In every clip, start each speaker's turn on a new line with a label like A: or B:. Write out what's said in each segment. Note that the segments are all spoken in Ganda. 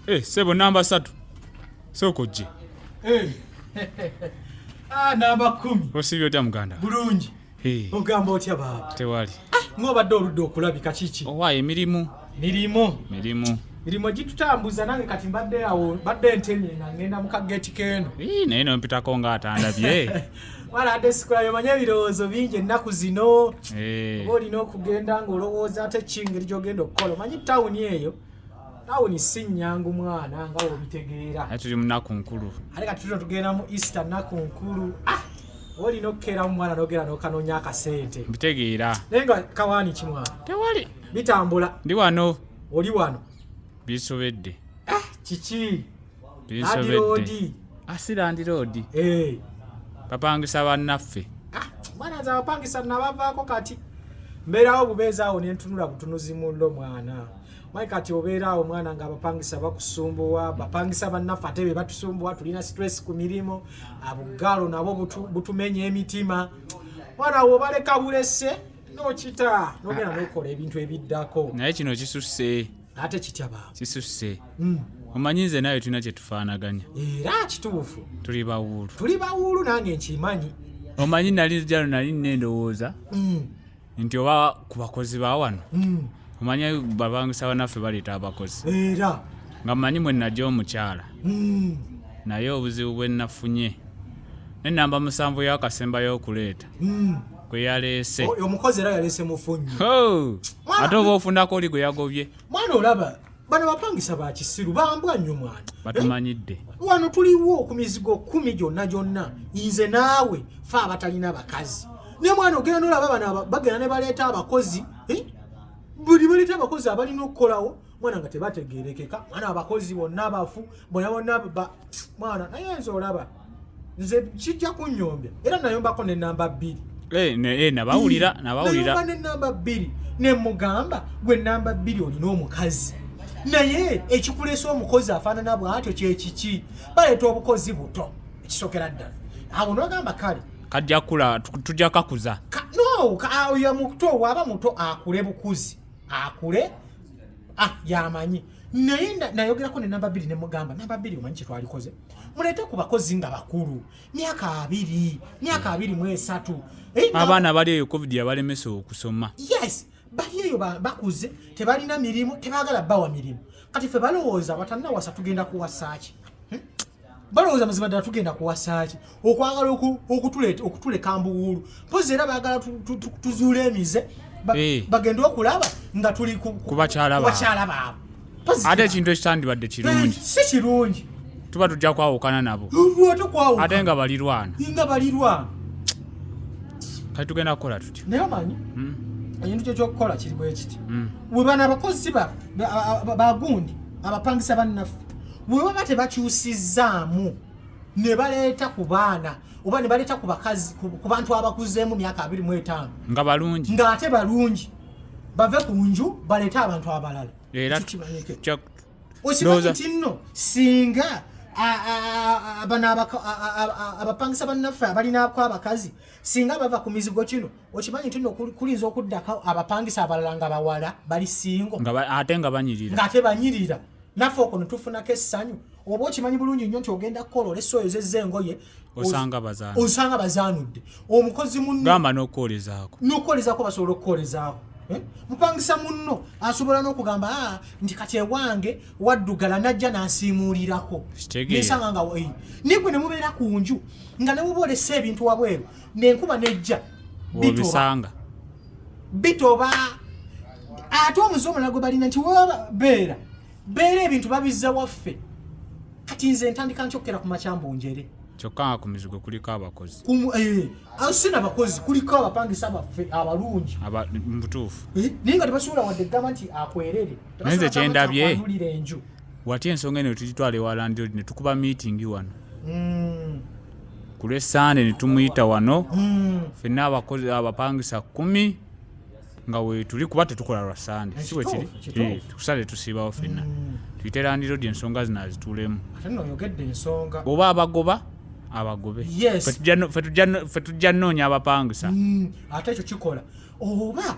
A: Hey, eh, sebo namba satu soko je hey. Eh.
B: ah, namba kumi osibye otya muganda
A: bulungi hey.
B: Eh. ogamba otya baaba tewali ah, ngobadde
A: oludde
B: okulabika kiki owa emirimu
A: mirimu mirimu mirimu
B: gitutambuza nange kati mbadde awo badde ntemye nga ngenda mu kageti keeno naye nompitako
A: nga atandabye wala ate
B: sikulayo manya ebirowoozo bingi ennaku zino oba eh. olina okugenda ng'olowooza ate kingeri gyogenda okukola omanyi tawuni eyo tawuni si nnyangu mwana nga wobitegeera ate tuli mu nnaku nkulu
A: ate ka tuto tugenda
B: mu easter nnaku nkulu ah! oba olina okukeera mu mwana nogenda nokanoonya akasente mbitegeera naye nga
A: kawaani
B: kimwana tewali
A: bitambula ndi
B: wano
A: oli wano
B: bisobedde
A: ah! kiki
B: landiroodi
A: ah, si landiroodi eh. bapangisa bannaffe ah, mwana nze
B: abapangisa nabavaako kati mbeerawo bubeeza awo nentunula butunuzi mullo mwana mayi kati obeera awo mwana nga abapangisa bakusumbuwa bapangisa bannaffe ate be batusumbuwa tulina stress ku mirimu abugaalo nabo butumenya emitima mwana awo obaleka bulese nokita nogenda nokola ebintu ebiddako naye kino kisusse
A: ate kitya baaba
B: kisusse
A: Mm. omanyi nze nawe tulina kye tufaanaganya era kituufu
B: tuli bawuulu
A: tuli bawuulu nange
B: nkimanyi omanyi nali
A: jalo nali nina endowooza Mm, nti oba ku bakozi ba wano mm. omanyi babangisa banaffe baleeta abakozi era nga
B: mmanyi mwe
A: najja omukyala mm, naye obuzibu bwe nafunye ne namba musanvu y'akasembayo okuleeta mm. gwe yaleese oyo omukozi era yaleese
B: mufunyi ate
A: oba ofunako oli gwe yagobye mwana olaba
B: bano bapangisa bakisiru bambwa nnyo mwana eh? batumanyidde
A: wano tuliwo
B: ku mizigo kumi gyonna gyonna nze naawe fe abatalina bakazi naye mwana ogenda nolaba bano bagenda ne baleeta abakozi eh? buli baleeta abakozi abalina okukolawo mwana nga tebategerekeka mwana abakozi bonna abafu bona bona mwana naye nze olaba nze kijja kunyombya era nayombako nenamba bbiri eh, eh, nabawulira
A: nabawulira nenamba
B: bbiri nemugamba gwe namba bbiri olina omukazi naye ekikulesa omukozi afaanana bwatyo kyekiki baleeta obukozi buto ekisokera ddala awo nogamba kale kajja kula
A: tujja kakuza no oyo
B: muto waaba muto akule bukuzi akule ah, yamanyi naye nayogerako ne namba bbiri ne mugamba namba bbiri omanyi kyetwalikoze muleete ku bakozi nga bakulu myaka abiri myaka abiri mu esatu eh, abaana bali
A: eyo covid yabalemesa okusoma yes bali
B: eyo bakuze tebalina mirimu tebagala bawa mirimu kati fe balowooza batanawasa tugenda kuwasaaki hmm? balowooza mazima ddala tugenda kuwasaaki okwagala okutuleka mbuwuulu mpozi era baagala tuzuula emize eh. bagende okulaba nga tuli kubakyala baabo ate ekintu
A: ekitandibadde kirungi si kirungi
B: tuba tujja
A: kwawukana nabo ate nga balirwana nga balirwana kati tugenda kukola tutya naye omanyi hmm?
B: ekintu kyo kyokukola kiri bwekiti hmm. webana abakozi bagundi abapangisa bannaffe bwe baba tebakyusizzaamu ne baleeta ku baana oba ne baleeta ku bakazi ku bantu abakuzeemu myaka abiri mu etaano nga balungi
A: ng'ate balungi
B: bave ku nju baleete abantu abalala
A: okimanyi
B: nti nno singa bano abapangisa bannaffe abalinaako abakazi singa bava ku mizigo kino okimanyi nti no kulinza okuddako abapangisa abalala nga bawala bali singo ate nga banyirira
A: ngate banyirira
B: naffe okwo netufunako essanyu oba okimanyi bulungi nnyo nti ogenda kukola olesa oyo zezza engoye osanga bazaanudde omukozi munogamba nokwolezaako
A: nokwolezaako basobola okukwolezaako
B: eh? mupangisa munno asobola n'okugamba ah, nti kati ewange waddugala najja nansiimuulirako nesanga nga eh, naye gwe ne mubeera ku nju nga ne muba olesa ebintu wabweru nenkuba nejja obisanga bitoba ate omuze omulala gwe balina nti weba beera beera ebintu babizza waffe kati nze ntandika nkyokera ku makyambu njere kyokka nga ku mizigo
A: kuliko abakozi eh, ah, si
B: nabakozi kuliko abapangisa baffe abalungi mubutuufu
A: eh, naye nga tebasobola
B: wadde gamba nti akwerere naye nze kyendabye
A: enju watya ensonga eno tugitwala ewa landlord ne tukuba miitingi wano mm. ku lw'essande ne tumuyita wano mm. fenna abakozi abapangisa kkumi nga wetuli kuba tetukola lwa sande si bwe kiri eh, kusande tusiibawo fenna mm. tuyite landlord ensonga zino azituulemu oba abagoba abagobe fe tujja nnoonya
B: abapangisa ate ekyo kikola
A: oba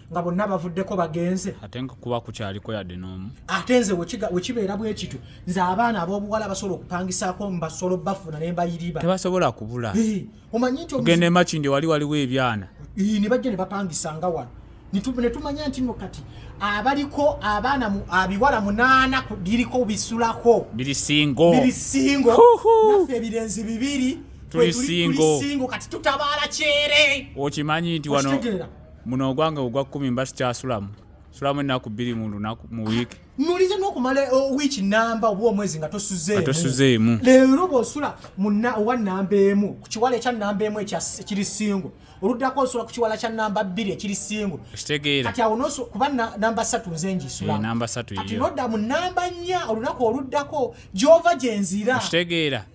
B: nga bonna bavuddeko bagenze ate nga kuba kukyaliko
A: yadde n'omu ate nze
B: wekibeera bwe kityo nze abaana ab'obuwala basobola okupangisaako mubasolo bafuna ne mbayiriba tebasobola kubula
A: omanyi nti
B: ogenda emakindi wali waliwo
A: ebyana ne bajja ne
B: bapangisanga wano ne tumanya nti no kati abaliko abaana abiwala munaana biriko bisulako biri singo
A: biri singo
B: naffe ebirenzi bibiri tuli singo
A: kati tutabaala
B: kyere okimanyi nti wano
A: muno ogwange ogwa kkumi mba sikyasulamu sulamu ennaku bbiri mu lunaku mu wiiki mulize n'okumala
B: eh, wiiki namba oba omwezi nga tosuzeemutosuzeemu
A: leero bw'osula
B: owa namba emu ku kiwala ekya namba emu ekiri singo oluddako osula ku kiwala kya namba bbiri ekiri singo kitegeera kati awo
A: kuba
B: namba satu nze ngisulannamba eh, satu kati nodda
A: mu namba
B: nnya olunaku oluddako gy'ova gye nzira kitegeera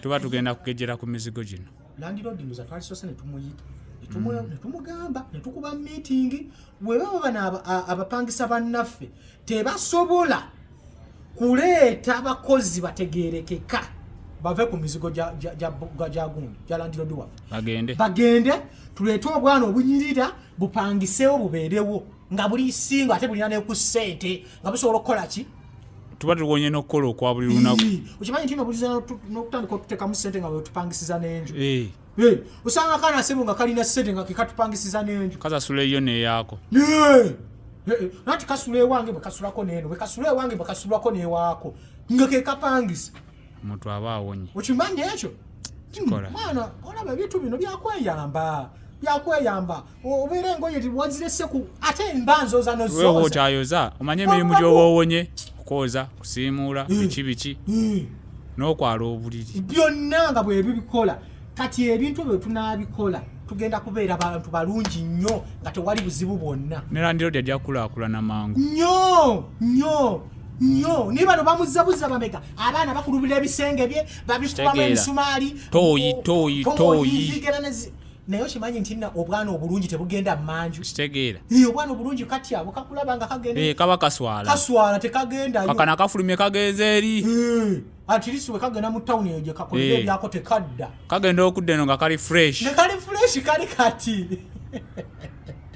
A: tuba tugenda kugejera ku mizigo gino landiroodi muza
B: twalisoose ne tumuyita Mm. netumugamba netukuba meeting webaba bano abapangisa bannaffe tebasobola kuleeta bakozi bategerekeka bave ku mizigo gyagundi gyalandirodi waffe bagende tuleete obwana obunyirira bupangisewo bubeerewo nga buli singo ate bulina neku sente nga busobola okukola ki tuba tuwonye
A: nokukola okwa buli lunaku okimanyi nti nobulizana
B: nokutandika otutekamu sente nga wetupangisiza nenju osanga kana sebo nga kalina sente nga kekatupangisiza nenju kasasula eyo neyako nati kasula ewange bwekasulako neno bwekasula ewange bwekasulako newako nga kekapangisa omuntu aba
A: awonye okimanyi ekyo
B: mwana olaba ebintu bino byakweyamba byakweyamba obeera engoye wazirese ku ate mba nzoza nozowewa okyayoza
A: omanye emirimu gyoba owonye okwoza kusiimuula hmm. biki biki hmm. n'okwala obuliri byonna nga
B: bwebibikola kati ebintu byo tunabikola tugenda kubeera abantu balungi nnyo nga tewali buzibu bwonna nelandiro dy ajja
A: kukulakulana mangu nyo nyo
B: nyo naye bano bamuzzabuza bameka abaana bakulubira ebisenge bye babikubamu emisumaali toyi toyi toyi naye okimanyi nti na obwana obulungi tebugenda manju kitegeera ee obwana
A: obulungi kati
B: abo kakulaba nga kagenda ee kaba kaswala kaswala
A: tekagenda kakana
B: kafulumye
A: kagenze eri ee atirisi
B: we kagenda mu tawuni eyo gye kakolera ebyako tekadda kagenda
A: okudda eno nga kali
B: fresh
A: nga kali
B: fresh
A: kali kati